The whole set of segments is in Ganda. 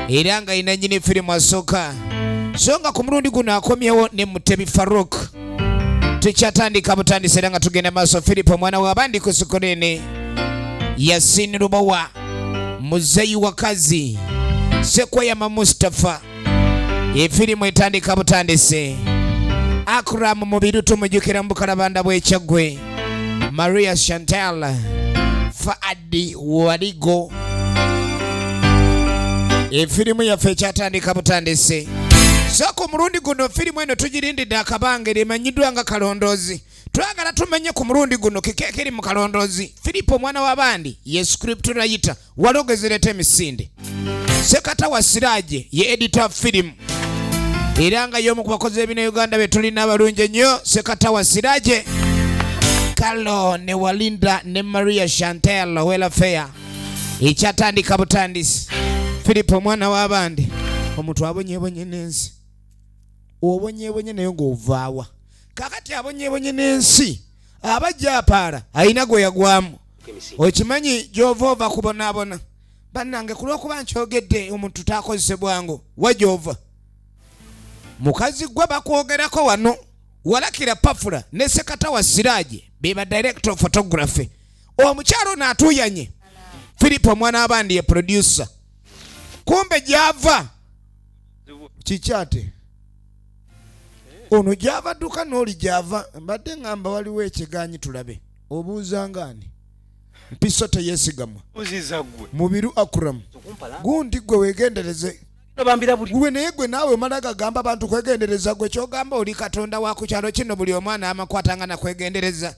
era nga yina nyini firimu asooka so nga ku mulundi guno akomyewo ne mutebi faruk tukyatandika butandisi era nga tugenda maaso filipo omwana wabandi ku sikolene yasini lubowa muzeyi wakazi sekweyama mustapha efirimu etandika butandisi akuramu mubiru tumujukira mu bukalabanda bwekyaggwe maria chantal Daddy Waligo. Efirimu yaffe ekyatandika butandise. So ku mulundi guno firimu eno tugirindidde akabanga eri emanyiddwa nga kalondoozi. Twagala tumenye ku mulundi guno kiki ekiri mu kalondoozi. Firipo omwana w'abandi ye scripturayita walogezereta emisinde. sekata wa siraje ye edita firimu era nga y'omu ku bakozi b'ebina uganda be tulina abalungi ennyo sekata wa siraje kalo ne walinda ne maria chantel welafeya ekyatandika butandisi filipo omwana w'abandi omuntu abonyebonye n'ensi obonyebonye naye ng'ovaawa kakati abonyebonye n'ensi aba jaapaala alina gwe yagwamu okimanyi gy'ova ova kubonaabona bannange ku lw'okuba nkyogedde omuntu taakozese bwangu wajoova mukazi gwe bakwogerako wano walakira pafula ne sekata wa siraaje be ba director photography omukyalo ono atuuyanye philip omwana abandi ye producer kumbe gyava kikyate ono gyava dduka n'oli gyava mbadde ngamba waliwo ekiganyi tulabe obuuzangaani mpiso teyesigamwa mubiru akuram gundi gwe wegendereze gwe naye gwe naawe omala gagamba bantu kwegendereza gwe kyogamba oli katonda wa ku kyalo kino buli omwana amakwata nga nakwegendereza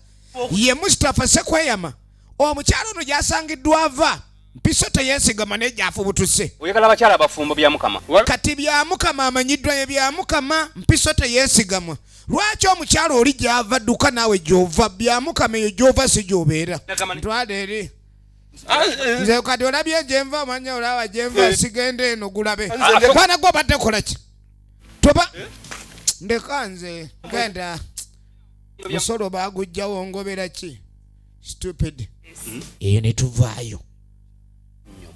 ye mustapha sekweyama omukyalo ono gyasangiddwa ava mpiso teyesigama naye gyafubutuse oyagala abakyala abafumbo byamukama kati byamukama amanyiddwa ye byamukama mpiso teyesigamwa lwaki omukyala oli gyava dduka naawe gyova byamukama eyo gyova si gyobeera ntwala eri ah, eh. nze kati olabye gyenva omanya olaba gyenva eh. sigenda eno gulabe kwana ah, gwe obadde kolaki toba eh? ndeka nze genda musolo bagujjawo ngoberaki stupid hmm? eyo ne tuvaayo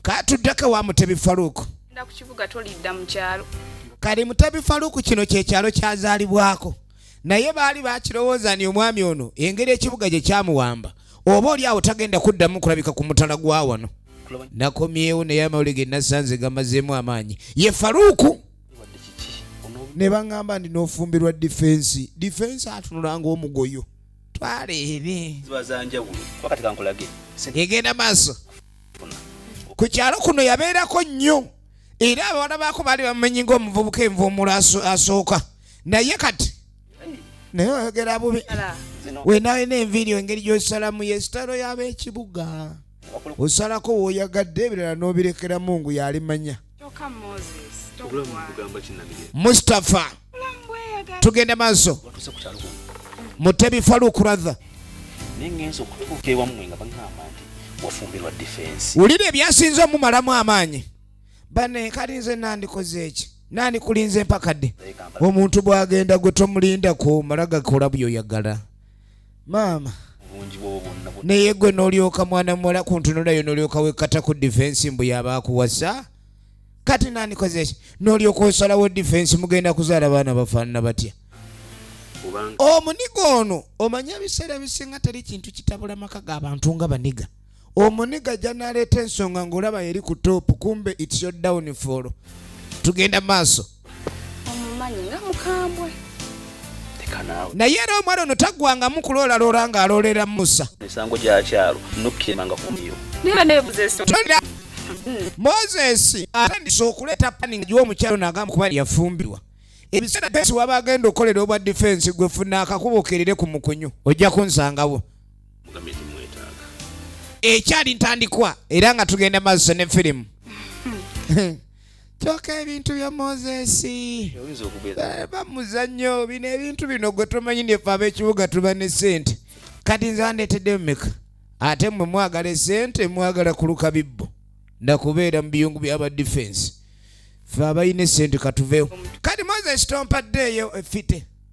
katuddeko wa mutebi faluuku kali mutebi faluuku kino kyekyalo kyazaalibwako naye baali bakirowooza ni omwami ono engeri ekibuga gye kyamuwamba oba oli awo tagenda kuddamu kulabika ku mutala gwa wano nakomyewo naye amawuli ge nasanze gamazeemu amaanyi ye faluuku ne baŋŋamba ndi n'ofumbirwa difensi difensi atunulanga omugoyo twala eri ziba zanjawulo kuba kati kankulage egenda maaso ku kyalo kuno yabeerako nnyo era abawala baako baali bamumanyi ngaomuvubuka envuumulo asooka naye kati naye oyogera bubi wenawena enviiri engeri gyosalamu yesitalo yaba ekibuga osalako woyagadde ebirala nobirekeramu ngu yalimanya mustapha tugende maaso mutebi faruk ratha wulira ebyasinze omumalamu amaanyi bane kali nze nandikoze eki nandikulinze mpakadde omuntu bwagenda gwe tomulinda kumala gakola byoyagala maama naye gwe nolyoka mwana muwala kuntunulayo nolyoka wekata ku difensi mbu yaba akuwasa kati nandikozeki nolyoka osalawo difensi mugenda kuzaala baana bafaanana batya omuniga ono omanya ebiseera ebisinga teri kintu kitabula maka ga bantu nga baniga omuniga janaleeta ensonga ngaolaba yeri ku top kumbe its your downfall tugenda maaso naye era omwana ono taggwangamu kuloolaloora ng'aloolera musa misango gya kyalo nukkiemanga kumiyo moses atandise okuleeta pani nga giwa omukyalo nagamba kuba yafumbirwa ebiseera pesi waba agenda okukolera obwa difensi gwefuna akakuba okerere ku mukunyu ojja kunsangawo ekyali ntandikwa era nga tugenda maaso ne firimu kyoka ebintu bya mozesi eh, bamuzannyo bino ebintu bino gwe tomanyi nefe ab'ekibuga tuba ne sente kati nze bandeetedde mumeka ate mwe mwagala esente mwagala kuluka bibbo nakubeera mu biyungu byaba difensi fe abalina esente katuveewo kati mozesi tompaddeeyo efite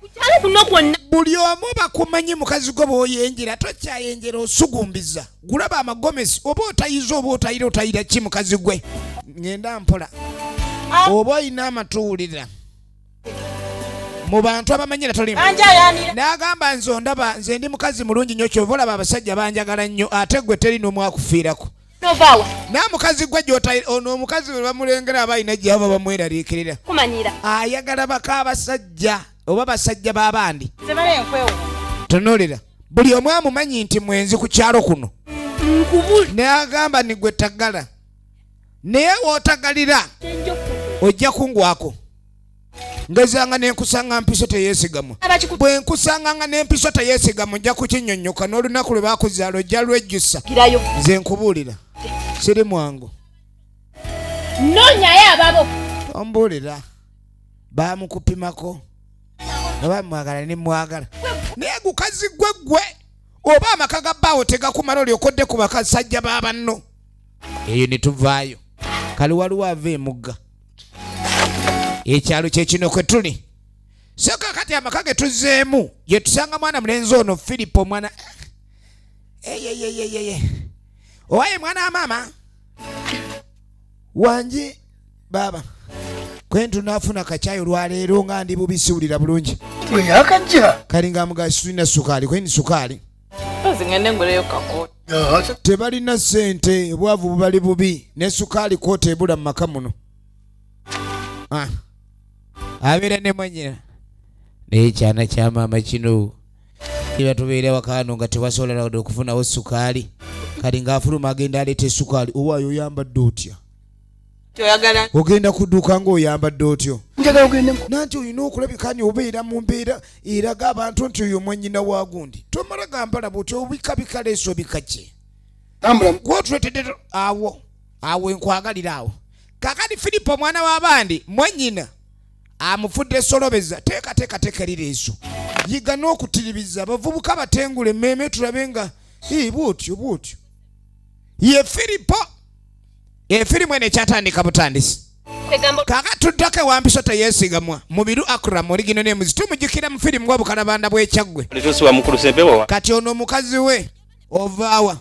kukyalo kuno kwonna buli omu bakumanyi mukazi gwo bwoyenjera tokyayenjera osugumbiza gulaba amagomesi oba otayiza oba otayira otayira ki mukazi gwe ngenda mpola ah. oba olina amatuwulira mu bantu abamanyira tolimu n'agamba nze ondaba nze ndi mukazi mulungi nnyo kyova olaba abasajja banjagala nnyo ate gwe teri n'omwakufiirako novaawa naye mukazi gwe gyota ono omukazi we bamulengera aba alina gyaba bamweraliikirira kumanyira ayagala baka abasajja oba basajja b'abandi tunuulira buli omu amumanyi nti mwenzi ku kyalo kuno naye agamba ni gwe tagala naye wootagalira ojja kungwako ngezanga nenkusanga mpiso teyesigamwa bwe nkusanga nga nempiso teyesigamwa ojja kukinyonyoka n'olunaku lwe bakuzaala ojja lwejjusa nze nkubuulira siri mwangu nonyayo ababo ombuulira baamukupimako oba mwagala ne mwagala naye gukazi gwe gwe oba amaka ga baawo tegakumala olyokodde ku bakasajja ba banno eyo ne tuvaayo kali waliwo ava emugga ekyalo kyekino kwe tuli soka kati amaka ge tuzzeemu gye tusanga mwana mulenzi ono filipo mwana eyeyeyeyeye eh, owaye mwana wa maama wangi baaba kwentu nafuna kacayi olwaleero nga ndi bubisiwulira bulungi kalinga mugasirina sukaali kweni sukaali tebalina sente obwavu bubali bubi ne sukaali kwota ebula mu maka muno ah. abeera ne mwanyina naye ekyana kya maama kino kiba tubeera wakaano nga tewasobola nawade okufunawo sukaali kati ng'afuluma agenda aleeta esukaali owaayo oyambadde otya kyoyagala ogenda kuduuka ng'oyambadde otyo njagala ogendemu nanti olina okulabikanya obeera mu mbeera eraga abantu nti oyo mwanyina wa gundi tomala gambala buti obikabika leesa obika kye gwotuletedde awo awo enkwagalira awo kakati filipo omwana w'abandi mwanyina amufudde solobeza teekateekateeka erireeso yiga n'okutiribiza abavubuka batengula emmeeme tulabe nga bwotyo bwotyo ye filipo efirimu eno ekyatandika butandisi kaka tuddako ewampiso teyesigamwa mubiru akram oligino nemuzi tumujukira mu firimu nga bukalabanda bwekyaggwe kati ono omukazi we ovaawa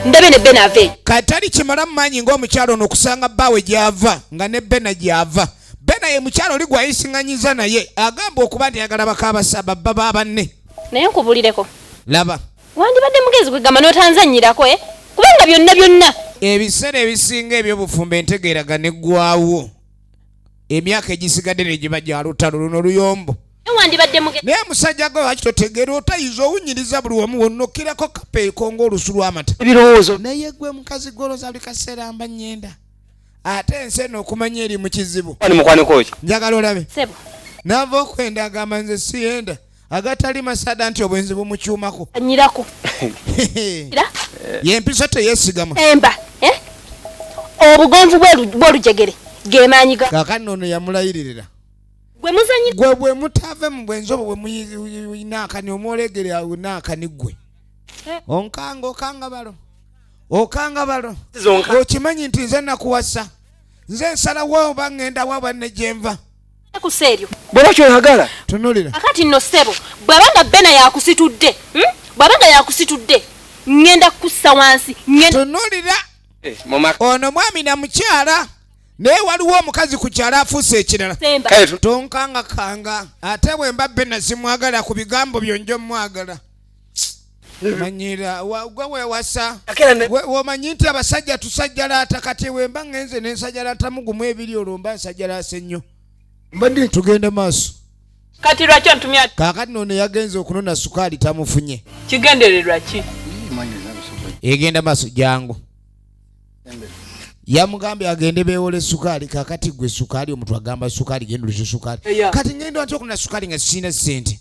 ndabe ne bena ave katali kimala mumanyi ngaomukyalo ono okusanga bbaawe gyava nga ne bena gyava bena ye mukyalo oli gwayisinganyiza naye agamba okuba nti ayagala bakaabasa babba ba banne naye nkubulireko laba Wandibadde mugezi kwegamba n'otanzannyirako eh? kubanga byonna byonna. Ebiseera ebisinga eby'obufumbo entegeeraga neggwaawo emyaka egisigadde ne giba gya lutalo luno luyombo. Naye musajja gwe lwaki totegeera otayiza owunyiriza buli wamu wonnokkirako kapeeko ng'olusu lw'amata. Ebirowoozo. Naye gwe mukazi goloza buli kaseera mba nnyenda ate ensi eno okumanya eri mu kizibu. Njagala olabe. Nava okwenda agamba nze siyenda. agatali masada nti obwenzi bumukyumako anyirako yempisa teyesigama emba eh? obugonvu bwolujegere gemaanyi kakati noono yamulayiririra gwe bwe mutave mu bwenzi obwo bwemunaakani omwolegere awo naakani gwe eh. onkanga okanga balo okanga balo okimanyi nti nze nakuwasa nze nsalawo oba ŋŋenda wa banne gyenva kusa eryo bwaba kyoyagala tunulira akati nno ssebo bwaba nga bena yakusitudde hmm? bwaba nga yakusitudde ŋŋenda kukussa wansi tunulira eh, ono mwami na mukyala naye waliwo omukazi ku kyalo afuuse ekirala tonkangakanga ate bwemba bena simwagala ku bigambo byonjo mwagala manyira gwe wewasa womanyi nti abasajja tusajjalaata kati wemba ngenze nensajalaatamu gumu ebiri olwo mba nsajjalaase nnyo tugende maaso kati lwaki ontumya kakati nono yagenze okunona sukaali tamufunye kigendererwa ki egenda maaso jangu yamugambye agende bewole sukaali kakati gwe sukaali omuntu agamba sukaali gendulisa sukaali kati ngenda ntya okunona sukaali nga sirina sente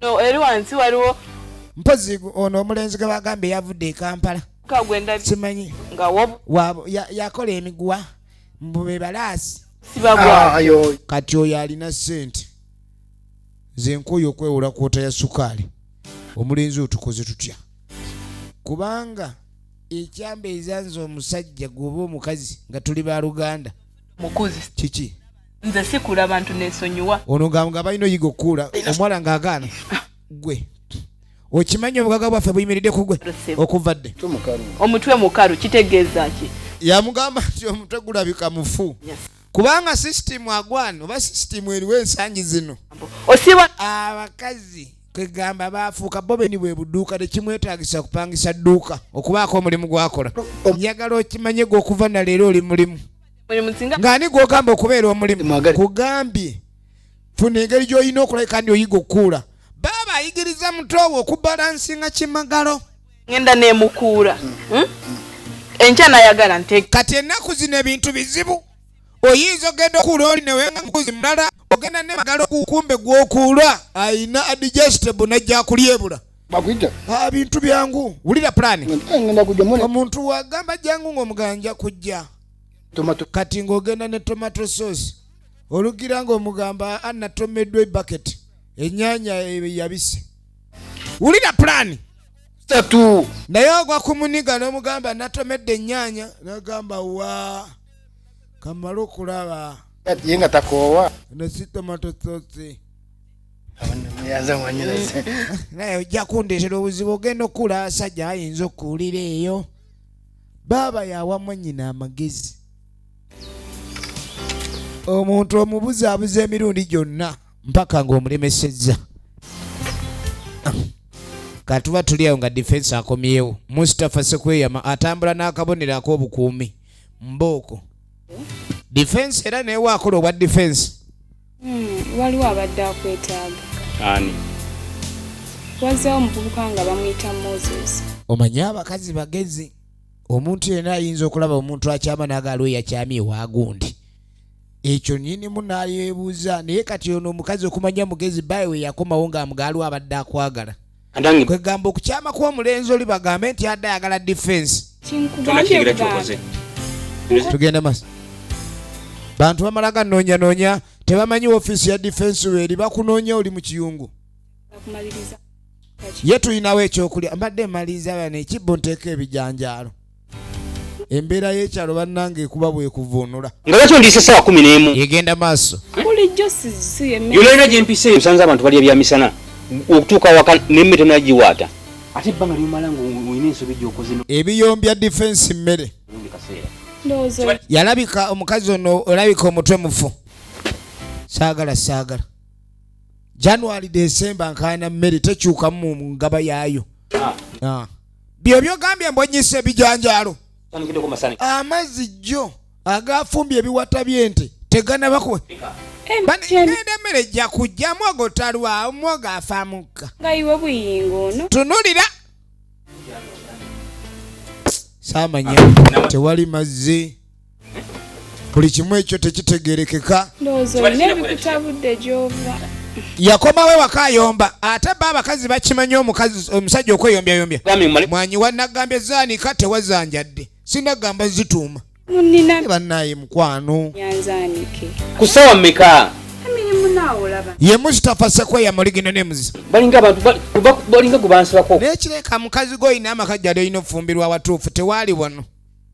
eri wansi waliwo mpozi ono omulenzi gwe bagambye yavudde e kampala simanyi yakola emiguwa mbu be balaasi ah, kati oyo alina sente nze nkooyo okwewola kwota ya sukaali omulenzi otukoze tutya kubanga ekyambeeza nze omusajja gwoba omukazi nga tuli baluganda kiki nze sikula bantu nesonyiwa ono nga nga balina oyiga okukuula omuwala nga agaana gwe okimanyi obugaga bwaffe buyimiridde ku gwe okuva dde omutwe mukalu kitegeeza ki yamugamba nti omutwe gulabika mufu kubanga sisitimu agwana oba sisitimu eriwo ensangi zino osiba abakazi kwegamba baafuuka bo beni bwe buduuka tekimwetagisa kupangisa dduuka okubaako omulimu gwakola njagala okimanye gwe okuva naleero oli mulimu ng'ani gw'ogamba okubeera omulimu kugambye funa engeri gy'olina okulai kandi oyiga okukuula baaba ayigiriza mutoowe okubalansinga kimagalo ngenda nemukuula hmm? enkya nayagala nte kati ennaku zino ebintu bizibu oyinza ogenda okuula oli newenga mukuzi mulala ogenda nemagalo okukumbe gw'okuula ayina adigestable najja kulyebula bakuyita ah, bintu byangu wulira pulani eh, omuntu wagamba jangu ng'omuganja kujja kati ng'ogenda ne tomato sauce olugira ng'omugamba anatomeddwa ebaket enyanya yabise wulira pulani satu naye ogwa kumuniga n'omugamba natomedde enyanya nagamba wa kamala okulaba ye nga takoowa nesi tomato sauce naye ojja kundetera obuzibu ogenda okukula asajja ayinza okuwulira eyo baaba yawa mwanyina amagezi omuntu omubuzaabuza emirundi gyonna mpaka ng'omulemesezza katuba tuli awo nga difensi akomyewo mustafa sekweyama atambula n'akabonero ak'obukuumi mbooko difensi era newe akola obwa difensi Hmm, waliwo abadde akwetaaga. Ani? Wazzeewo omuvubuka nga bamuyita Moses. Omanyi abakazi bagezi. Omuntu yenna ayinza okulaba omuntu akyama n'agaaliwo yakyamye ewa gundi. Ekyo nnyinimu n'ayeebuuza naye kati ono omukazi okumanya mugezi baawe yakomawo ng'amugaaliwo abadde akwagala. kwegamba okukyama kwomulenzi oli bagambe nti adde ayagala difensi tugende masa bantu bamala ganoonyanoonya tebamanyi ofiisi ya difensi weeri bakunoonya oli mu kiyungu ye tulinawo ekyokulya mbadde maliriza bana ekibbo nteeka ebijanjaalo embeera y'ekyalo bannange ekuba bwekuvuunula nga lwaki ondiisa essaawa kumi n'emu egenda maaso bulijjo yololera gye mpisa eyo osanze abantu balya bya misana okutuuka waka nemme tonagiwaata ate ebbanga lyomala ngaolina ensobi gyokoze ebiyombya difensi mmere yalabika omukazi ono olabika omutwe mufu saagala saagala january desemba nkaana mmere tekyukamu mu ngaba yaayo ah. Ah. byebyogambye mbonyisa ebijanjaalo amazzi jjo agafumbye ebiwata byente teganabako genda emmere jja kujjamu ogotalwawo mwoga afa mukka tunulira saamanya tewali mazzi buli kimu ekyo tekitegerekeka yakomawo ewaka ayomba ate ba abakazi bakimanyi omusajja okweyombyayomby mwanyi wanagambye zanika tewazanjadde sinagamba zituuma banaye mukwano kusawa meka ye mustapha sekweya muligino nemuzi balinga gubansibako naye kireka mukazi goyina amaka jali olina okufumbirwa awatuufu tewaali wano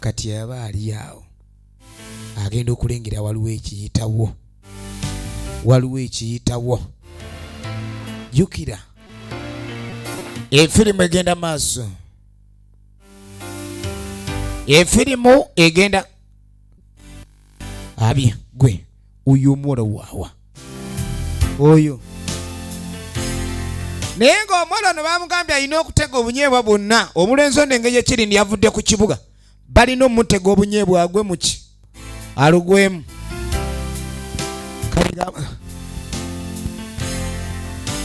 kati yaba ali awo agenda okulengera waliwo ekiyitawo waliwo ekiyitawo jukira efirimu egenda maaso efirimu egenda abye gwe oyo omuwala waawa oyo naye ng'omuwala ono bamugambye alina okutega obunyeebwa bwonna omulenzi ono engeri ekiri ndi avudde ku kibuga balina omutega obunyeebwa agwe muki alugwemu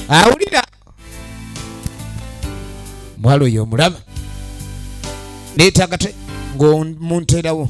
awulira mwalo oyo omulaba neetagate ng'omunteerawo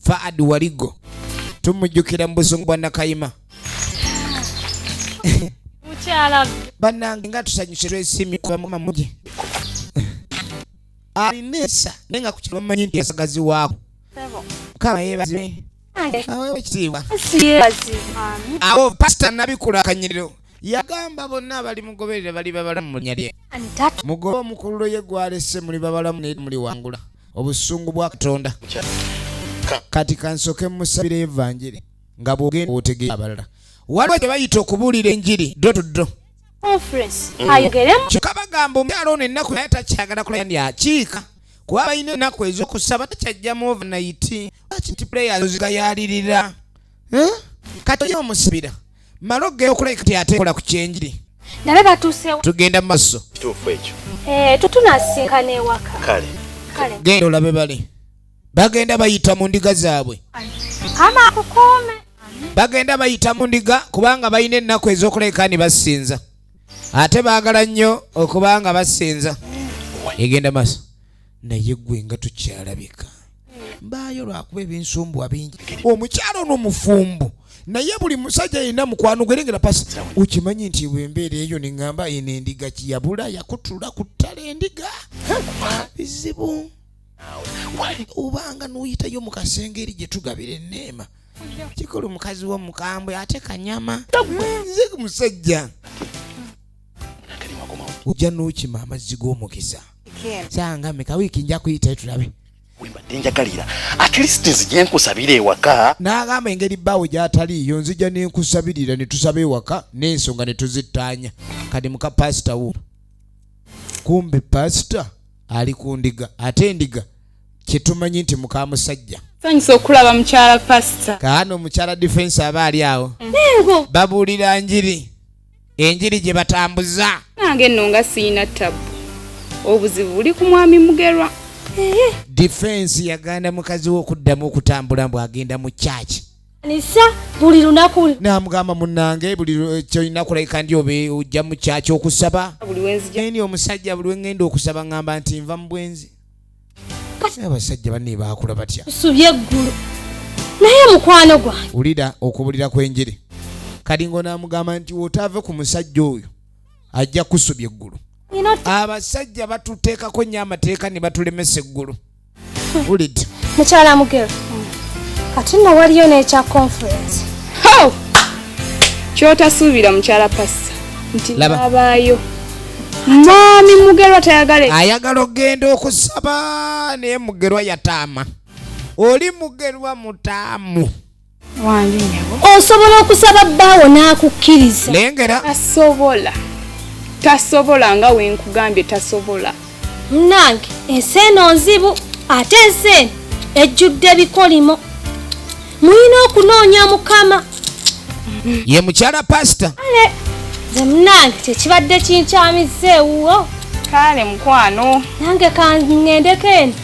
Faad Waligo tumujjukira mu buzungu bwa Nakayima banange nga tusanyuse lwesimye kuba mukama mugi alina ensa naye nga kukino bamanyi nti yasagazi waako mukama yebaziwe awewe ekitiibwa awo pasita nabikula akanyiriro yagamba bonna abali mugoberera bali babalamu mu linya lye mugobe omukululo ye gwalese muli babalamu naye muli wangula obusungu bwa katonda kati kansoke musabira evanjiri nga bwogenda otegera abalala waliwo kye bayita okubuulira enjiri ddo tuddo kyokka bagamba omukyalo ono ennaku naye takyagala kulaya ndi akiika kuba balina ennaku ez'okusaba takyajjamu overnayiti lwaki nti puleyazigayalirira hmm? kati oyo omusibira mala okugenda okulabika ti ate kola ku kyenjiri nabe batuusewo tugenda mu maaso kituufu ekyo eh, tutunasinkana ewaka kale genda olabe bali bagenda bayita mu ndiga zaabwe kama akukuume bagenda bayita mu ndiga kubanga balina ennaku ez'okuleka ni basinza ate baagala nnyo okubanga basinza egenda maaso naye gwe nga tukyalabika mbaayo lwakuba ebinsumbuwa bingi omukyalo ono mufumbo naye buli musajja yenna mukwano gwerengera pasi okimanyi nti wembeera eyo neŋamba eno endiga kiyabula yakutula ku ttala endiga bizibu obanga noyitayo mu kasenge eri gyetugabira eneema kikulu mukazi wo mukambwe ate kanyama nze musajja ojja n'okima amazzi g'omukisa sanga meka wiiki nja kuyitayo tulabe wembadde njagalira at least nzija nkusabira ewaka n'agamba engeri bbaawe gy'ataliiyo nzija ne nkusabirira ne tusaba ewaka n'ensonga ne tuzittaanya kati muka paasita wo kumbe paasita ali ku ndiga ate endiga kye tumanyi nti muka musajja sanyusa okulaba mukyala paasita kaano omukyala difensi aba ali awo babuulira njiri enjiri gye batambuza nange nno nga siyina ttabu obuzibu buli ku mwami mugerwa difensi yaganda mukazi we okuddamu okutambula mbu agenda mu kyaki nisa buli lunaku namugamba munange buli eh, kyolina kulabika ndi obe ojja mu kyaki okusaba eni omusajja buli wengenda okusaba ngamba nti nva mu bwenzi kati abasajja banne baakula batya nsubye eggulu naye mukwano gwange wulira okubulira kw'enjiri kalingo n'amugamba nti wotaave ku musajja oyo ajja kusubya eggulu abasajja batuteekako nnyo amateeka ne batulemesa eggulu wulidde mukyala mugero kati nno waliyo n'ekya conference kyotasuubira mukyala pasi nti nabaayo mwami mugerwa tayagale ayagala okugenda okusaba naye mugerwa yataama oli mugerwa mutaamu osobola okusaba bbaawo n'akukkiriza lengera asobola tasobola nga wenkugambye tasobola munange ensi eno nzibu ate ensi eno ejjudde bikolimo mulina okunoonya mukama ye mukyala pasita nze munange kyekibadde kinkyamiza ewuwo kale mukwano nange kangendeko eno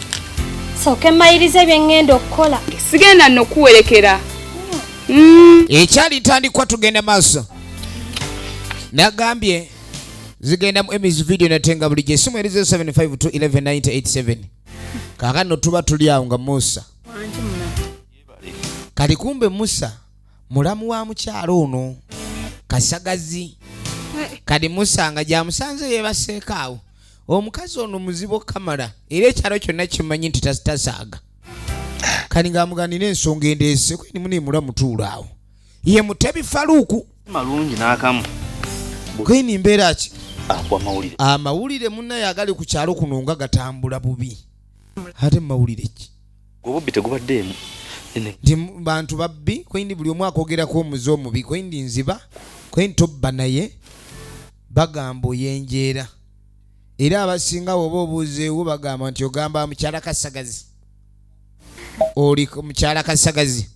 sooke mayirize bye ŋŋenda okukola sigenda nokuwerekera mm. ekyali tandikwa tugenda maaso nagambye zigenda mu emis video natenga bulijjo esimu erize 752 11 987 kakano tuba tuli awo nga musa kati kumbe musa mulamu wa mukyala ono kasagazi kati musa nga gyamusanze yebaseeko awo omukazi ono muzibu okukamala era ekyalo kyonna kimanyi nti tasaaga kati ngaamuganira ensonga endeese kweni munimula mutuula awo ye mutebi faluuku malungi nakamu kweni mbeera ki amawulire munaye agali ku kyalo kuno nga gatambula bubi ate mumawulire ki obubbi tegubaddeemu nti bantu babbi kwendi buli omu akogerako omuze omubi kwendi nziba kwendi tobba naye bagamba oyenjeera era abasinga woba obuuzeewo bagamba nti ogamba mukyala kasagazi oli mukyala kasagazi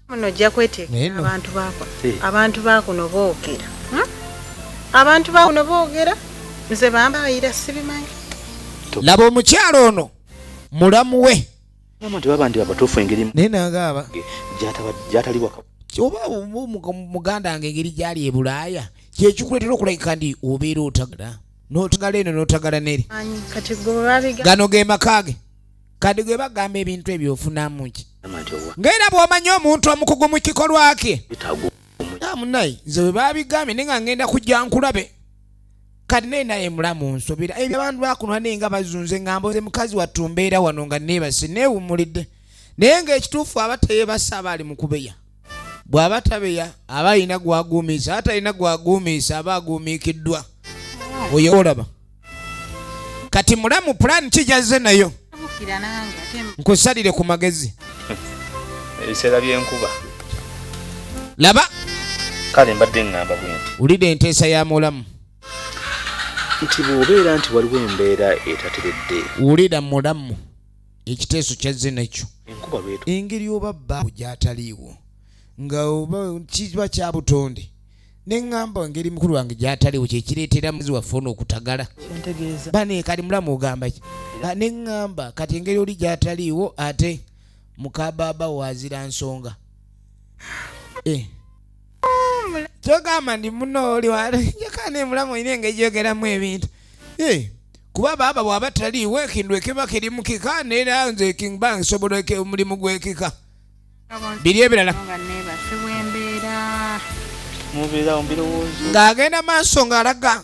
muno ojja kweteekera abantu baako eh. abantu baakuno boogera hmm? abantu baakuno boogera nze bambayira sibimanyi laba omukyalo ono mulamu we naye nagaaba oba muganda wange engeri gyali e bulaaya kyekikuleetera okulagika ndi obeera otagala notagala eno notagala neri gano ge makaage kadi gwe bagamba ebintu ebyo ofunamu ki ngaera bwomanya omuntu omukugu mu kikolwa kye munaye nze bwe babigambye naye nga ngenda kujja nkulabe kati naye naye mulamu nsubira ebyo abantu bakunwa naye nga bazunze nga mboze mukazi wattu mbeera wano nga neebase neewummulidde naye ng'ekituufu aba teyebasa aba ali mu kubeya bw'aba tabeya aba alina gwaguumiisa aba talina gwaguumiisa aba aguumiikiddwa oyo olaba kati mulamu pulaani kijazze nayo nkusalire ku magezi ebiseera byenkuba laba kale mbadde ŋŋamba bwenti wulira enteesa ya mulamu nti bw'obeera nti waliwo embeera etateredde wulira mulamu ekiteeso kyazze nakyo engeri oba baawo gyataliiwo nga oba kiba kya butonde ne ŋŋamba engeri mukulu wange gyataliiwo kye kireetera muzi waffe ono okutagala baneekali mulamu ogamba ki ne ŋŋamba kati engeri oli gyataliiwo ate mukabaaba waazira nsonga eh. kyogamba ndi muno oli wayaka nemulamu olina engeri gyogeramu ebintu eh, kuba baaba bwaba taliiwo ekintu ekiba kiri mukika neera nze ekingba nsobola omulimu gwekika biri ebirala ng'agenda maaso ng'alaga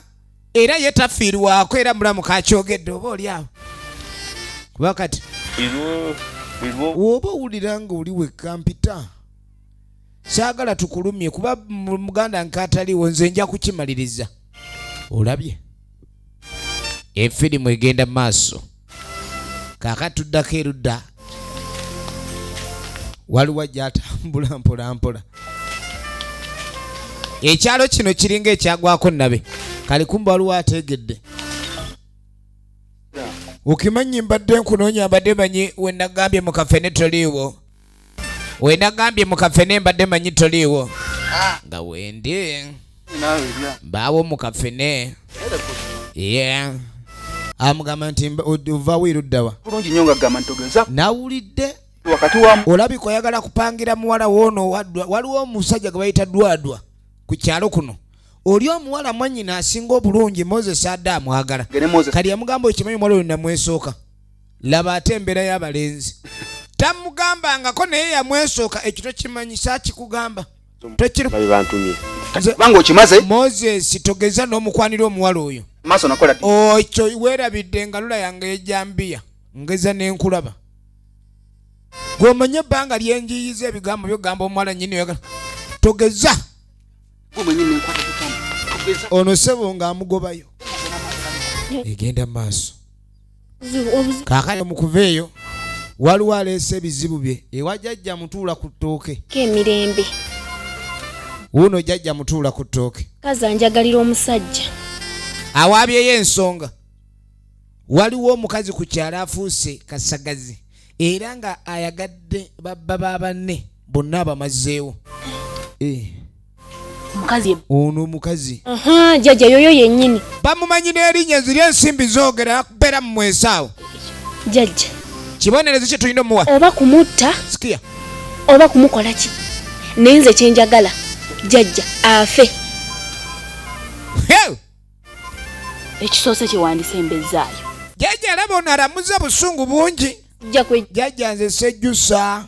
era ye tafiirwako era mulamu kakyogedde oba oli awo kuba kati woba owulira nga oli wekka mpita saagala tukulumye kuba muganda nkataliwo nze nja kukimaliriza olabye efirimu egenda maaso kaka tuddako erudda waliwo ajatambula mpolampola ekyalo kino kiringa ekyagwako nabe kali kumba waliwo ategedde okimanyi mbadde nkunoonya mbadde manyi wenagambye mukafene toliiwo wenagambye mukafe nembadde manyi toliiwo nga wendi mbaawo mukafene ye amugamba nti ovawo eruddawa nawulidde olabika oyagala kupangira muwala woono waliwo omusajja gwe bayita dwadwa ku kyalo kuno oli omuwala mwanyina asinga obulungi moses adde amwagala kali yamugamba okimanyi omuwala oyo namwesooka laba ate embeera y'abalenzi tamugambangako naye yamwesooka ekyo tokimanyisa kikugamba tokirubanga okimaze moses togeza n'omukwanira omuwala oyo maaso nakola okyo oh, weerabidde engalula yange ejambiya ngeza n'enkulaba gwomanye ebbanga lyenjiyiza ebigambo byogamba omuwala nyini oyagala togeza ono sebo ng'amugobayo egenda mu maaso kaakati mu kuva eyo waliwo aleese ebizibu bye ewa jajja mutuula ku ttooke kemirembe wuuno jajja mutuula ku ttooke kazi anjagalira omusajja awaabyeyo ensonga waliwo omukazi ku kyalo afuuse kasagazi era nga ayagadde babba ba banne bonna abamazeewo eh. omukazi ono omukazi jajja yoyo yenyini bamumanyi n'erinnya eziri ensimbi zoogera kubeera mu mwesaawo jajja kibonerezo kye tulina omuwa oba kumutta sikia oba kumukola ki naye nze kyenjagala jajja afe ekisoose kyewandisa embezaayo jajja alaba ono alamuza busungu bungi jajja nze sejjusa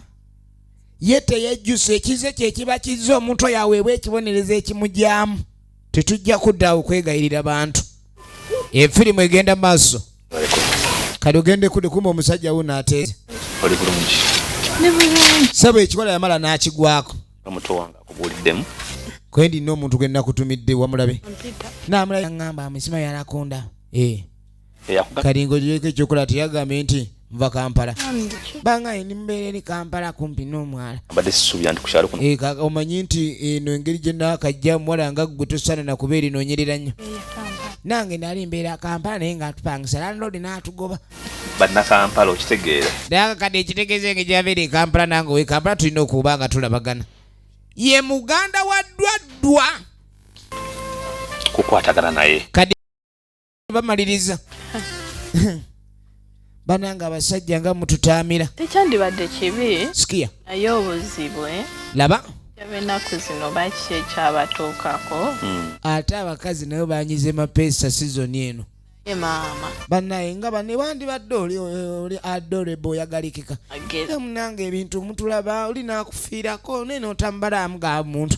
ye teyejjusa ekize kye kiba kizza omuntu oyo aweebwa ekibonerezo ekimugyamu tetujja kuddaawo kwegayirira bantu efirimu egenda maaso kati ogende kudikuma omusajja wuno ateera sebo ekikola yamala n'akigwako kwe ndina omuntu gwe nakutumidde wamulabe namulabe aŋamba amusima yalakunda ee eh. kati ng'ogiweko ekyokola teyagambye nti nva kampala banga ndi mubeera eri kampala kumpi n'omwala eh, omanyi nti eno engeri gye naakajja muwala nga ggwe tosaana nakuba erinoonyerera nnyo nange nali mbeera kampala naye nga atupangisa landlord n'atugoba bannakampala okitegeera naye kade ekitegeeza enge gyabeera ekampala nange owekampala tulina okuba nga tulabagana ye muganda wa ddwaddwa kukwatagana naye bamaliriza bananga abasajja nga mututaamira tekyandibadde kibi sikia naye obuzibu eh? laba enaku zino bakiki ekyabatuukako hmm. ate abakazi nayo banyize mapeesa sizoni eno banaye nga bane wandibadde oli adorable oyagalikika munange ebintu mutulaba oli nakufiirako naye notambala amuga muntu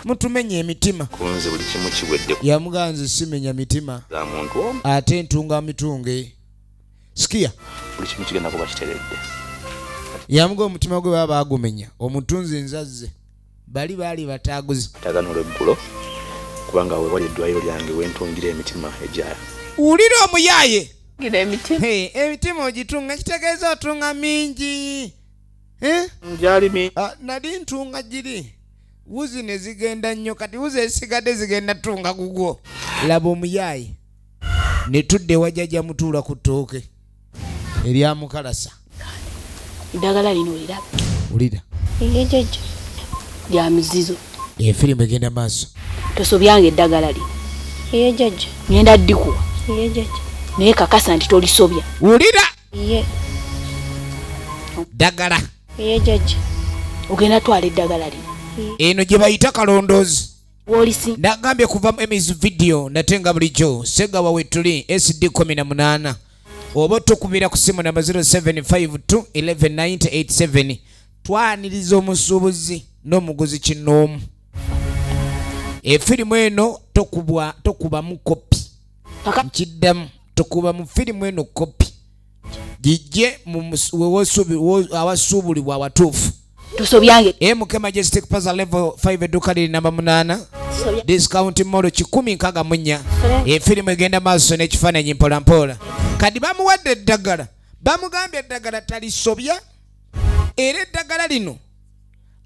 mutumenya emitima kunze buli kimu kiwedde yamuganze simenya mitima za muntu omu ate ntunga mitunge sikia buli kimu kigenda kuba kiteredde yamuga omutima gwe baba bagumenya omutunzi nzazze bali baali bataguzi atagana olweggulo kubanga wewali eddwaliro lyange wentungira emitima egya wulira omuyaaye emitima ogitunga kitegeeza otunga mingi eh? ah, nali ntunga giri wuzi ne zigenda nnyo kati wuzi ezisigadde zigenda tunga gugwo laba omuyaayi ne tudda ewa jajja mutuula ku ttooke erya mukalasa eddagala lino oliraba wulira egejeje lya mizizo efirimu egenda maaso tosobyanga eddagala lino egejeje ngenda ddikuwa egejeje naye kakasa nti tolisobya wulira ye dagala ye jaji ogenda twala eddagala lino eno gye bayita kalondoozi nagambye kuva mu emis video nate nga bulijjo segawa wetuli sd 18 oba otukubira ku simu namba 0752119087 twaniriza omusuubuzi n'omuguzi kinoomu efirimu eno tokubamu kopi nkiddamu tukuba mu firimu eno kopi gijje awasuubulibwa awatuufu tusobyange e mk majestic paza level 5 edduka liri namba munaana discount molo kikumi nkaga munya efirimu egenda maaso n'ekifaananyi mpolampola kadi bamuwadde eddagala bamugambye eddagala talisobya era eddagala lino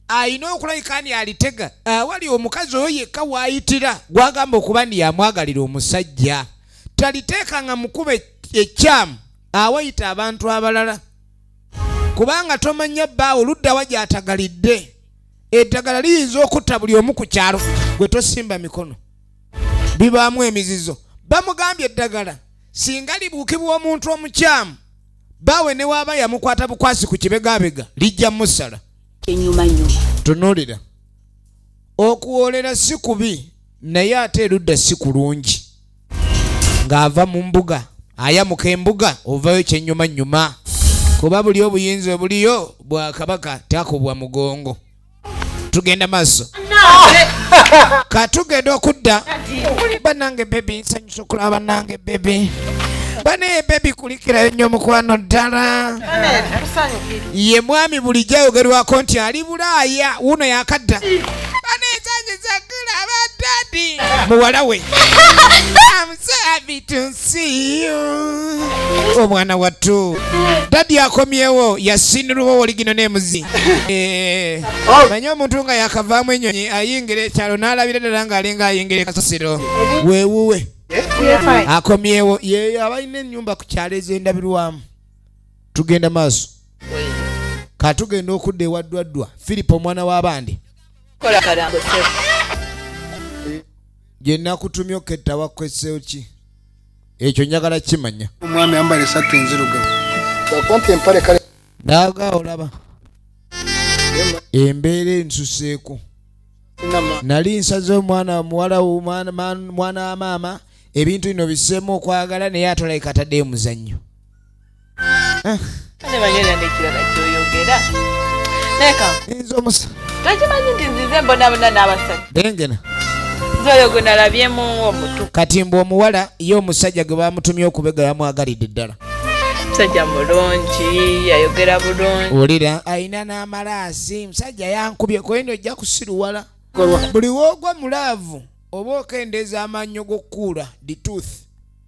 alina okulabika ni alitega awali ah, omukazi oyo yekka waayitira gwagamba okuba ni yamwagalira omusajja taliteeka nga mukuba ekyamu awayita abantu abalala kubanga tomanya bbaawo luddawa gyatagalidde eddagala liyinza okutta buli omu ku kyalo gwe tosimba mikono bibaamu emizizo bamugambye eddagala singa libuukibwa omuntu omukyamu baawe ne waaba yamukwata bukwasi ku kibegabega lijja musala tunuulira okuwoolera si kubi naye ate erudda si kulungi ng'ava mu mbuga ayamuka embuga ovayo kyenyumanyuma kuba buli obuyinza obuliyo bwakabaka takubwa mugongo tugenda maaso katugenda okudda banange bebi nsanyusa okulaba banange bebi banaye bebi kulikirayo nnyo mukwano ddala ye mwami bulijjo ayogerwako nti ali bulaaya wuno yakadda banaye nsanyusa okulaba dadi muwala we omwana wattu dadi akomyewo yasinirwawo oligino nemuzi eh, oh. manye omuntu nga yakavaamu enyonyi ayingira ekyalo nalabira ddala nga alinga ayingira ekasasiro wewuwe akomyewo yeyo abalina enyumba ku kyalo ezendabirwamu tugenda maaso katugenda okudda ewaddwaddwa filipo omwana w'abandi gye nakutumye oketta wakwesseeyo ki ekyo njagala kimanya omwami ambala esatu enzirugavu akumpa empale kale naaga olaba embeera ensuseeko nali nsaze omwana muwala mwana wa maama ebintu bino biseemu okwagala naye atolabika ataddeyo muzannyo Eh. kale banyera nekirala kyoyogera naye kanze omusa takimanyi nti nzize mbonabona n'abasajja engena oyo gwe nalabyemu omutu kati mbu omuwala ye omusajja gwe bamutumye okubega yamwagalidde ddala musajja mulungi yayogera bulungi wulira alina n'amalaasi musajja yankubye kweno ojja kusiruwala buli woogwa mulaavu oba okendeeza amannyo g'okukuula the tooth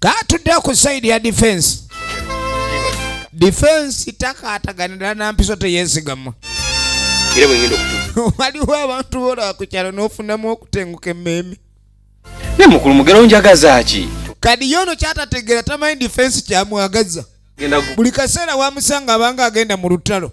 katudde ku sayidi ya difensi difensi takaataganira na mpiso teyeesigama era bwengenda okutuuka waliwo abantu bola ku kyalo n'ofunamu okutenguka emmeeme naye mukulu mugero njagaza ki kadi yono kyatategeera tamanyi difensi kyamwagaza buli kaseera wamusanga abanga agenda mu lutalo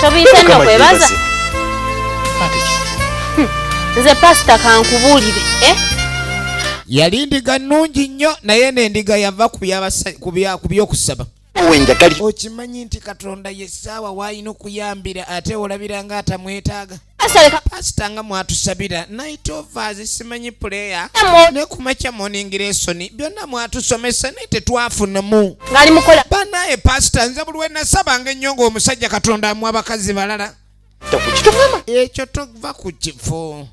tobiyita nno kwebaza hmm. nze pasita kankubuulire eh? yali ndiga nnungi nnyo naye n'endiga yava ku by'okusaba okimanyi nti katonda ye ssaawa w'alina okuyambira ate olabira ng'atamwetaaga pasita nga mwatusabira night overs simanyi puleya ne kumakya morning lesson byonna mwatusomesa naye tetwafunamu banaye pasita nze buli wenasabanga ennyo ng'omusajja katonda amu abakazi balala ekyo tova ku kifo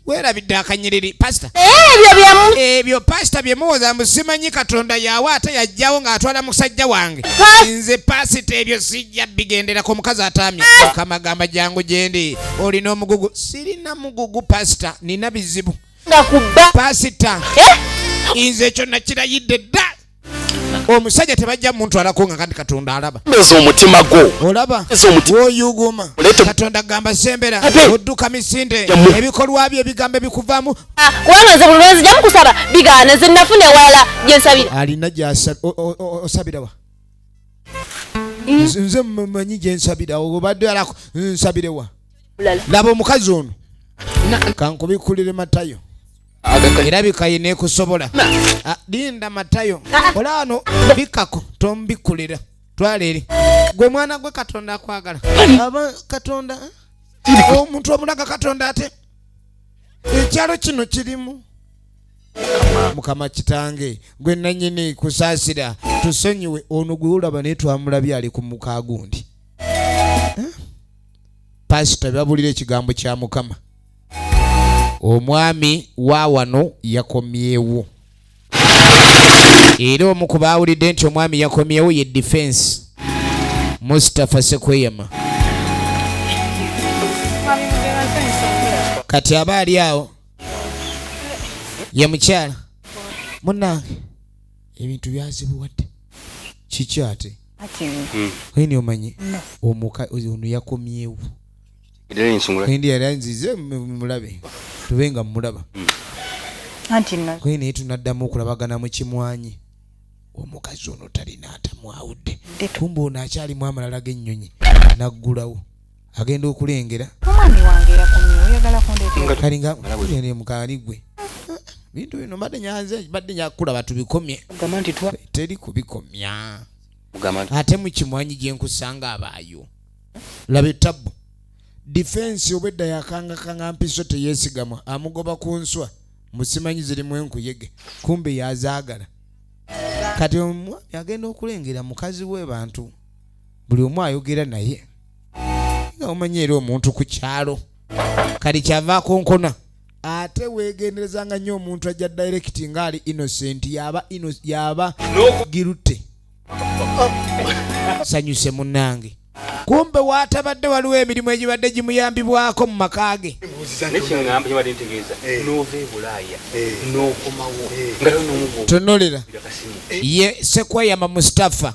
werabidde akanyiriri pasita eh, ebyo pasita byemuwoza mbu simanyi katonda yawe ate yajjawo ng'atwala musajja wange nze pasita ebyo si bijja bigenderako omukazi atamye mukama gamba jangu gyendi olina omugugu sirina mugugu pasita nina bizibu pasita eh? nze ekyo nakirayidde dda omusajja tebajja muntu alako nga kandi katonda alaba eza omutima gwo olaba woyuguma katonda gamba sembera odduka misinde ebikolwa byo ebigambo ebikuvamu ah, kubanga nze buli lwenzi jamukusaba bigaana nze nafuna ewalala gyensabira alina gyasabirawa nze nze mmanyi gye nsabira obadde alako nsabirewa laba omukazi ono kankubikkulire matayo era bikaye nekusobola ah, linda matayo ah. olaano bikako tombikkulira twala eri gwe mwana gwe katonda akwagala aba katonda eh? omuntu omulaga katonda ate ekyalo kino kirimu mukama kitange gwe nanyini kusaasira tusonyiwe ono gwe olaba naye twamulabye ali ku muka gundi eh? pasita babulira ekigambo kya mukama omwami wa wano yakomyewo era omu ku baawulidde nti omwami yakomyewo ye difensi mustapha sekweyama kati aba ali awo ye mukyala munange ebintu byazibuwadde kiki ate oyini hmm. omanyi omuka ono yakomyewo ndi yali anzize mulabe tube nga mulaba hmm. kwe naye tunaddamu okulabagana mu kimwanyi omukazi ono talina atamwawudde kumba ono akyalimu amalala g'ennyonyi naggulawo agenda okulengera mukani gwe bintu bino mbadde nyanze badde nyakulaba tubikomye teri kubikomya ate mukimwanyi gyenkusanga abaayo laba etabbu difensi obwedda yakangakanga mpiso teyesigamwa amugoba ku nswa musimanyi zirimu enkuyege kumbe yazaagala kati omwami agenda okulengera mukazi we bantu buli omu ayogera naye nga omanyi era omuntu ku kyalo kati kyava akonkona ate wegenderezanga nnyo omuntu ajja direct nga ali innocent yaba yaba girute sanyuse munange kumbe watabadde waliwo emirimu egibadde gimuyambibwako mu maka ge tonolera ye sekwayama mustafa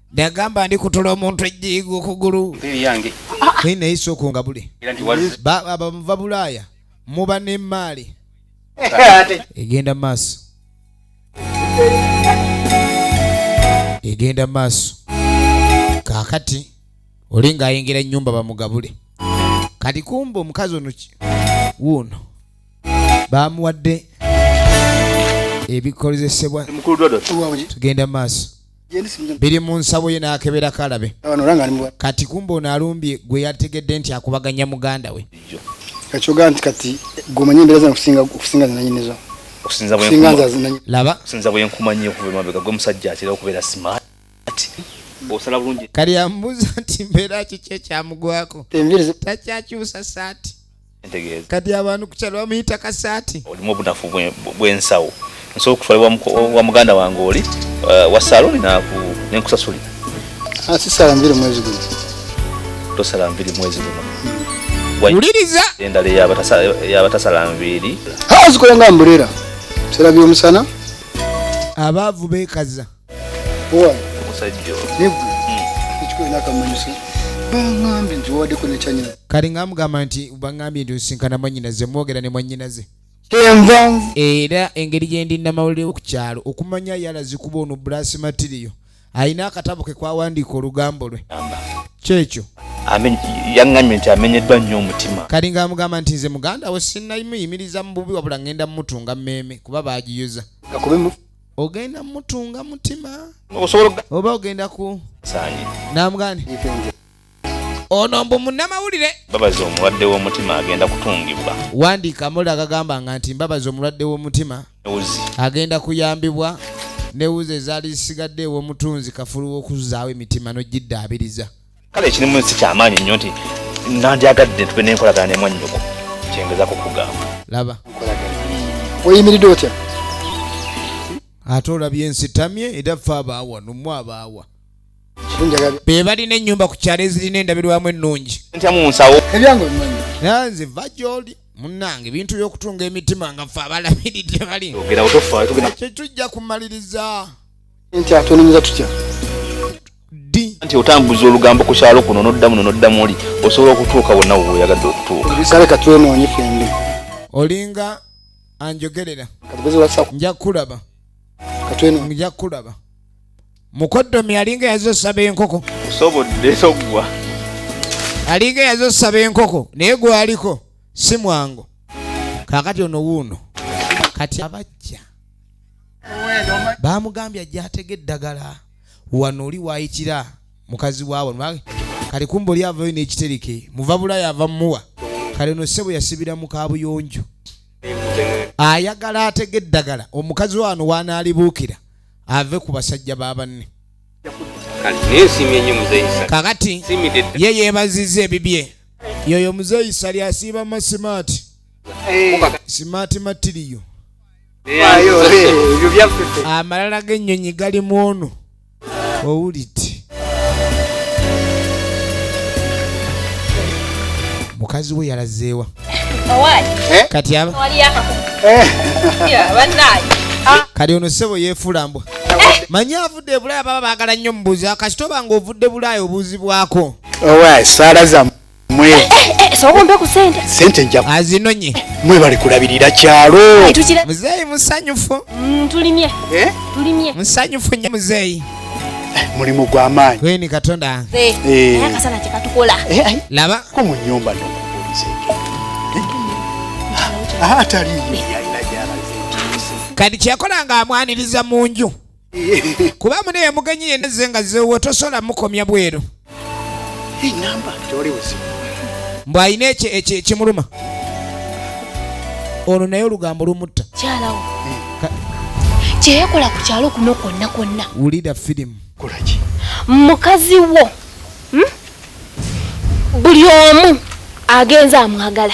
Ndagamba ndi kutula omuntu ejjiigo okugulu. Naye naye sooka ongabule. Abamuva Bulaaya muba n'emmaali. Egenda maaso. Egenda maaso. Kaakati oli ng'ayingira ennyumba bamugabule. Kati kumba omukazi ono ki? Wuuno. Baamuwadde ebikozesebwa. Tugenda maaso. biri mu nsabo ye n'akebera kalabe kati kumba ono alumbye gwe yategedde nti akubaganya muganda we ekyogaa nti kati gwe omanyi embeera zana okusinga zinanyinizo okusinza bwenkumanyi okuva emabega gwe musajja atera okubeera smart osala bulungi kali ambuuza nti mbeera kiki ekyamugwako takyakyusa saati ntegeeza kati abantu kukyalo bamuyita kasaati olimu obunafu bwensawo nsobola okutwala wa muganda wange oli eh, wa saloni nenkusasulira ah, sisala nviri mwezi guno tosala nviri mwezi guno wuliriza endala yabatasala nviiri zikola nga mbulera sera byomusana abaavu bekaza kati ngamugamba nti baŋambye nti osinkana mwanyinaze mwogera ne mwanyinaze era engeri gyendi namawulire ku kyalo okumanya yalazikuba ono brasi matiriyo alina akatabo ke kwawandiika olugambo lwe kyekyo yaŋŋambye nti amenyeddwa nnyo omutima kali nga amugamba nti nze muganda we sinnayimuyimiriza mu bubi wabula ŋŋenda mumutunga mmeeme kuba baagiyuza ogenda mutunga mutima oba ogenda ku namugani ono mbu munamawulire mbabazi omulwadde w'omutima agenda kutungibwa wandiika amawulire agagamba nga nti mbabazi omulwadde w'omutima agenda kuyambibwa newuzi ezaali zisigadde ew'omutunzi kafulu w'okuzzaawo emitima n'ogiddaabiriza kale ekirimu nsi kyamaanyi nnyo nti nandyagadde tube nenkolagana ne mwannyoko kyengezako kugamba laba oyimiridde otya ate olabye ensitamye era fe abaawa nomwe abaawa be balina ennyumba ku kyalo ezirina endabirwamu ennungi nanze va gyoli munange ebintu by'okutunga emitima nga fe abalabiridde bali kyetujja kumaliriza nti atwenenyeza tutya nti otambuza olugambo ku kyalo kuno noddamu no noddamu oli osobola okutuuka wonna woyagadde okutuuka kale katwenoonye fembi olinga anjogerera nja kulaba nja kulaba mukoddomi alinga yaza osaba enkoko osobodde toggwa alinga yaza osaba enkoko naye gwaliko si mwangu kakati ono wuuno kati abajja baamugambye ajja atega eddagala wano oli waayitira mukazi waabo kale kumba oli avayo n'ekitereke muva bulaya ava mumuwa kale no ssebo yasibira mu kaabuyonjo ayagala atega eddagala omukazi wano wanaalibuukira ave ku basajja ba banne kakati ye yeebaziza ebibye yoyo muzeeyi sali asiiba masimaati simaati eh. matiriyo amalala g'ennyonyi gali mu ono owulidde mukazi we yalazeewa eh? kati aba eh. kati ono ssebo yeefuula mbwa eh. manyi avudde ebulaaya baba baagala nnyo mubuuzi akasitoba nga ovudde bulaaya obuuzibwako owa saala zamu mwe eh, eh, eh, sobola ompe ku sente sente nja azinonye mwe bali kulabirira kyalo muzeeyi musanyufu mm, tulimye tulimye musanyufu nye muzeeyi mulimu gwa maanyi kweni katonda akasana kyekatukola laba ko mu nyumba nomubulizeeko ataliyo kati kyekola nga amwaniriza mu nju kuba mune yamugenyi yena ze nga zewo tosobola mukomya bweru mbu alina ekimuluma ono naye olugambo lumutta kyeyekola ku kyalo kuno kwonna kwonna wulira firimu mukazi wo hmm? buli omu agenze amwagala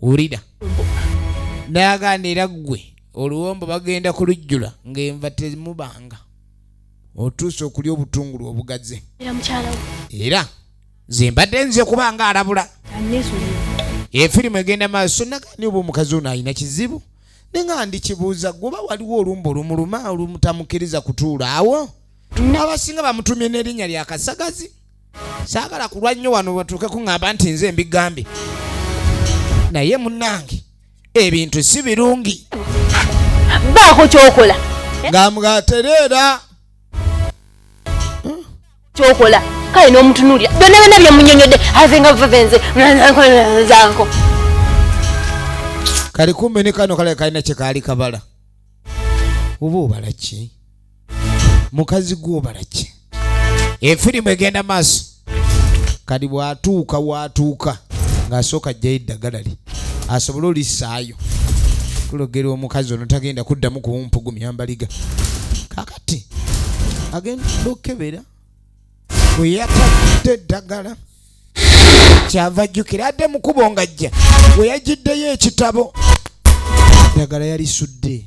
wulira nayaganda era ggwe oluwombo bagenda kulujjula ng'enva temubanga otuuse okulya obutungulu obugaze era zembadde nze kubanga alabula efirimu egenda maaso nagani oba omukazi ono alina kizibu ninga ndikibuuza gwoba waliwo olumba olumuluma olumutamukiriza kutuula awo abasinga bamutumye n'erinnya lya kasagazi saagala kulwa nnyo wano batuuke kuŋŋamba nti nze mbigambye naye munnange ebintu si birungi baako kyokola ngamwatereera kyokola kale n'omutunuulira byonna byonna byemunyonyodde aze nga vavenze zanko kali kumbe ne kano kale kalina kyekaali kabala oba obala ki mukazi gwobalaki efirimu egenda maaso kati bwatuuka watuuka ng'asooka ajjayo eddagala lye asobole olisaayo kulogera omukazi ono tagenda kuddamu kuwumpugumya mbaliga kakati agenda okukebera bwe yatadde eddagala kyava jjukira adde mukubo ngajja we yagiddeyo ekitabo eddagala yalisudde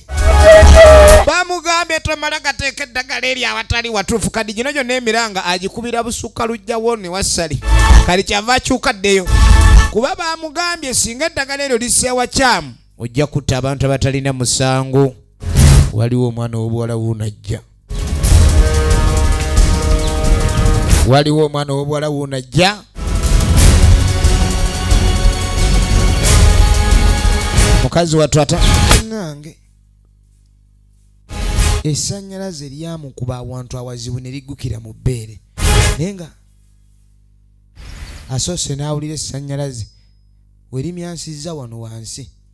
bamugambye tomala gateeka eddagala eri awatali watuufu kadi gino gyonna emiranga agikubira busukka lujjawo ne wassali kali kyava akyuka ddeyo kuba bamugambye singa eddagala eryo liseewa kyamu ojja kutta abantu abatalina musango waliwo omwana w'obuwala wuunajja waliwo omwana ow'obuwala wuuno ajja mukazi wattu ata nange esanyalaze lyamukuba awantu awazibu ne liggukira mu bbeere naye nga asoose n'awulira esanyalaze werimyansizza wano wansi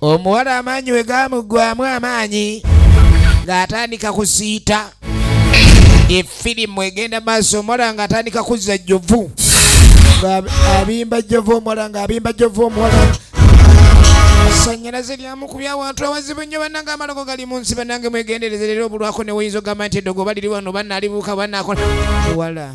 omuwala amaanyi we gaamuggwamu amaanyi ng'atandika kusiita efirimu egenda maaso omuwala ng'atandika kuzza jjovu abimba jjovu omuwala ng'abimba jjovu omuwala sannyalaze lyamukubya awantu awazibu nnyo bannange amalogo gali mu nsi bannange mwegendereze leero obulwako ne woyinza ogamba nti eddogo baliri wano bannaalibuuka banaakola wala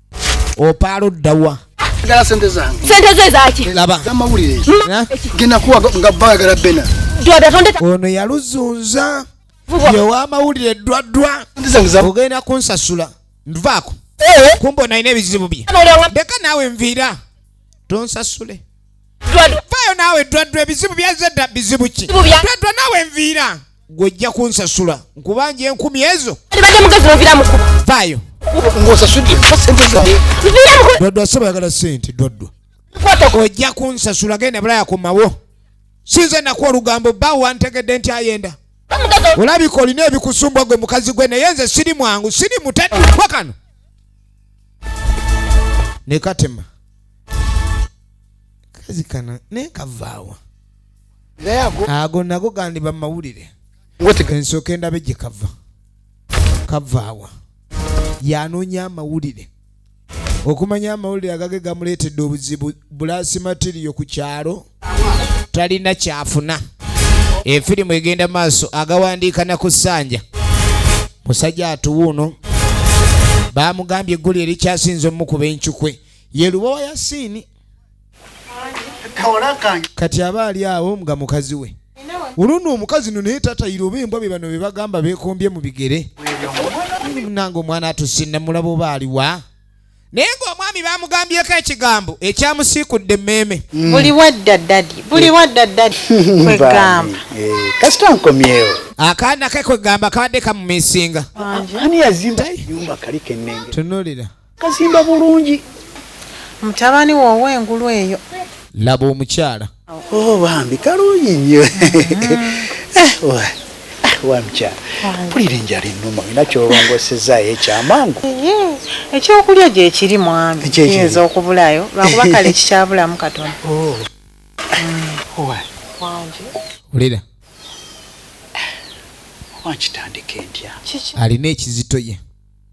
opaala oddawa gala sente zange sente zo ezaki laba zamawulire genda kuwa nga bagala bena ono yaluzunza yewamawulire eddwaddwa ogenda kunsasula nvaako eh? kumba onalina ebizibu bye leka naawe nviira tonsasule vayo naawe eddwaddwa ebizibu byazedda bizibu ki ddwaddwa naawe nviira gwojja kunsasula nkubanja enkumi ezo vaayo dwaddwa saba yagala sente dwaddwa ojja kunsasula genda bulaya komawo sinze naku olugambo ba wantegedde nti ayenda olabika olina ebikusumbwa gwe mukazi gwe naye nze siri mwangu siri mutadikwa kano nekatema kazi kana nekavaawa ago nago gandiba mumawulire ensooka endabe gye kava kavaawa yanoonya amawulire okumanya amawulire agage gamuleetedde obuzibu bulaasi matiriyo ku kyalo talina kyafuna efirimu egenda maaso agawandiika na ku sanja musajja atuwuuno baamugambye egguli erikyasinze omukuba encukwe ye lubowa yasiini kati aba ali awo nga mukazi we oluno omukazi no naye tatayira oba embwa be bano be bagamba bekombye mu bigere nange omwana atusinna mulaba oba aliwa naye ng'omwami bamugambyeko ekigambo ekyamusiikudde emmeeme mm. buli wadda dadi buli eh. wadda dadi kwegamba eh, kasita nkomyewo akaana ke kwegamba kabadde kamumisinga ani yazimba yumba kali kennenge tunulira Kazimba bulungi mutabani wo ow'engulu eyo. Laba omukyala. Oh bambi kalungi nnyo. Mm-hmm. Eh, eh, wa mukyala mpulira enjala ennuma olina kyolongosezaayo ekyamangu. Ekyokulya gye kiri mwami kiyinza okubulayo lwakuba kale kikyabulamu katono. Oh. Mm. Wulira. Wankitandika entya. Alina ekizito ye.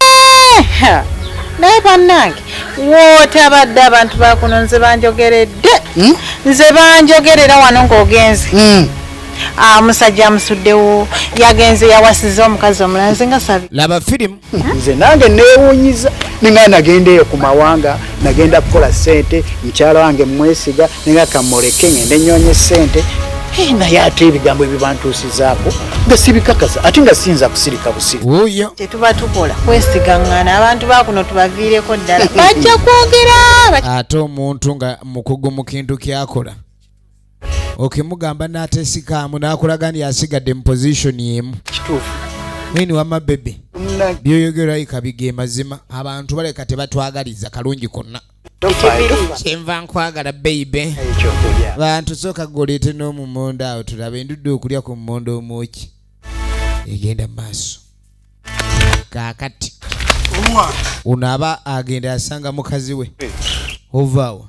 Eh, naye bannange wootabadde abantu bakuno nze banjogeredde hmm? nze banjogerera wano ng'ogenze hmm. ah, musajja amusuddewo yagenze yawasiza omukazi omulanze nga sabi laba firimu hmm? nze nange neewunyiza ninga nagendeeyo ku mawanga nagenda kukola sente mukyala wange mwesiga nenga kamuleke ngende nyonye sente eh, naye ate ebigambo ebibantuusizaako nga sibikakasa ate nga siyinza kusirika busiruoyo tetuba tukola kwesigaŋŋana abantu bakuno tubaviireko ddala bajja kwogera ate omuntu nga mukugu mu kintu kyakola okay mugamba natesikaamu nakulaga nti asigadde mu position emu kituufu mwini wama bebe byoyogera yika bige mazima abantu baleka tebatwagaliza kalungi konna kyenva nkwagala beibe bantu sooka golete n'omumondo awo tulaba endudde okulya ku mumondo omwoki egenda mu maaso kakati unaaba agenda asanga mukazi we eh. ovaawa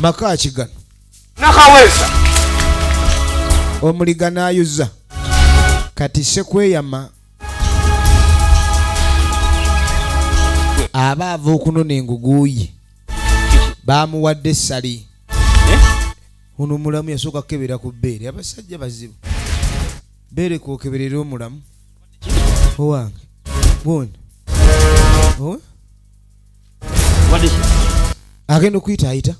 maka ki gano nakaweesa omuliga n'ayuza kati sekweyama aba ava okunona enguguuyi baamuwadde essali eh? ono omulamu yasooka kukebera ku bbeere abasajja bazibu beere kwokeberera omulamu owange bwona agenda okuyita ayita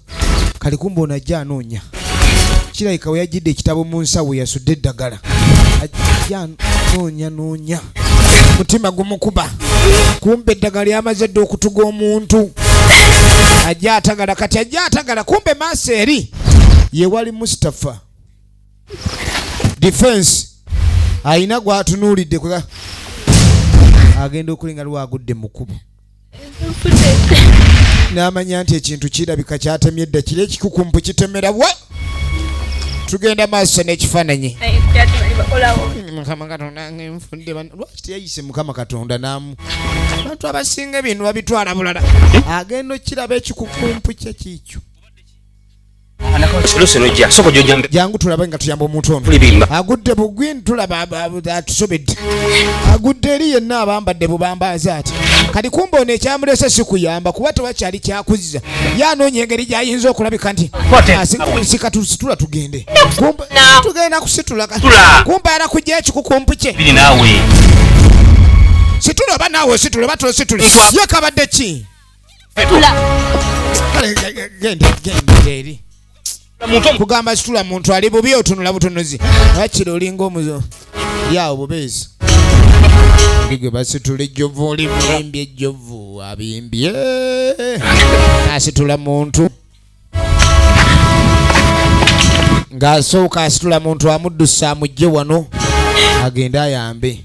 kali kumba ono ajja anoonya kirabika we yajjidde ekitabo mu nsawo yasudde eddagala ajja anoonya noonya mutima gumukuba kumba eddagala lyamaze dde okutuga omuntu ajja atagala kati ajja atagala kumbe maaso eri yewali mustapha defense alina gwatunuulidde agenda okulinga lwagudde mukubo n'amanya nti ekintu kirabika kyatemye edda kiri ekikukumpu kitemera wa tugenda maaso n'ekifaananyi lwaki teyayise mukama katonda namu abantu abasinga ebintu babitwala bulala agenda okiraba ekikukumpu kye kiikyo jangu tulabe nga tuyamba omuntu ono agudde bugwin tulaba atusobedde agudde eri yenna abambadde bubambaaza ati kati kumba ono ekyamulese sikuyamba kuba tewakyali kyakuzza ye anoonya engeri gyayinza okulabika nti sika tusitula tugende tugenda kusitula kumba ara kujja ekikukumpu kye situla oba naawe ositula oba tositula ye kabadde ki kugamba situla muntu ali bubi otunula butunuzi akiri olinga omuzo yawo bubeezi gwe basitula ejjovu oli muyimbi ejjovu abimbye asitula muntu ng'asooka asitula muntu amuddusa amujje wano agende ayambe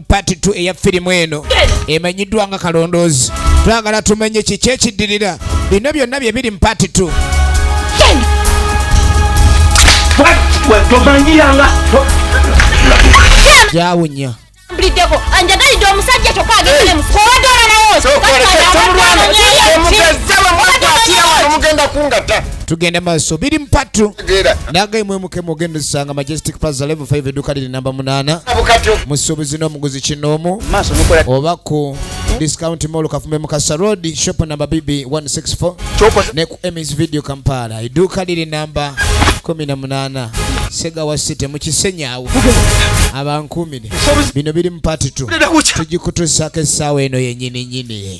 part 2 eya firimu eno emanyiddwa nga kalondoozi twagala tumenye kiki ekiddirira bino byonna bye biri mu part 2 gyawunya mbuliddeko anjagalidde omusajja kyokka ageemukwogera nayeomugenda kungata tugende maaso biri mu part 2 tegeera nange imwe mukemu ogenda osanga majestic plaza level 5 edduuka liri namba munaana abukatyo musuubuzi n'omuguzi kinoomu maaso mukola oba ku discount mall kafume mukasa road shop namba bb 164 kyoko ne ku emis video kampala edduuka liri namba 18 segawa city mu kisenyaawo abankuumire bino biri mu part 2 tujikutuusaako essaawa eno yenyini nyini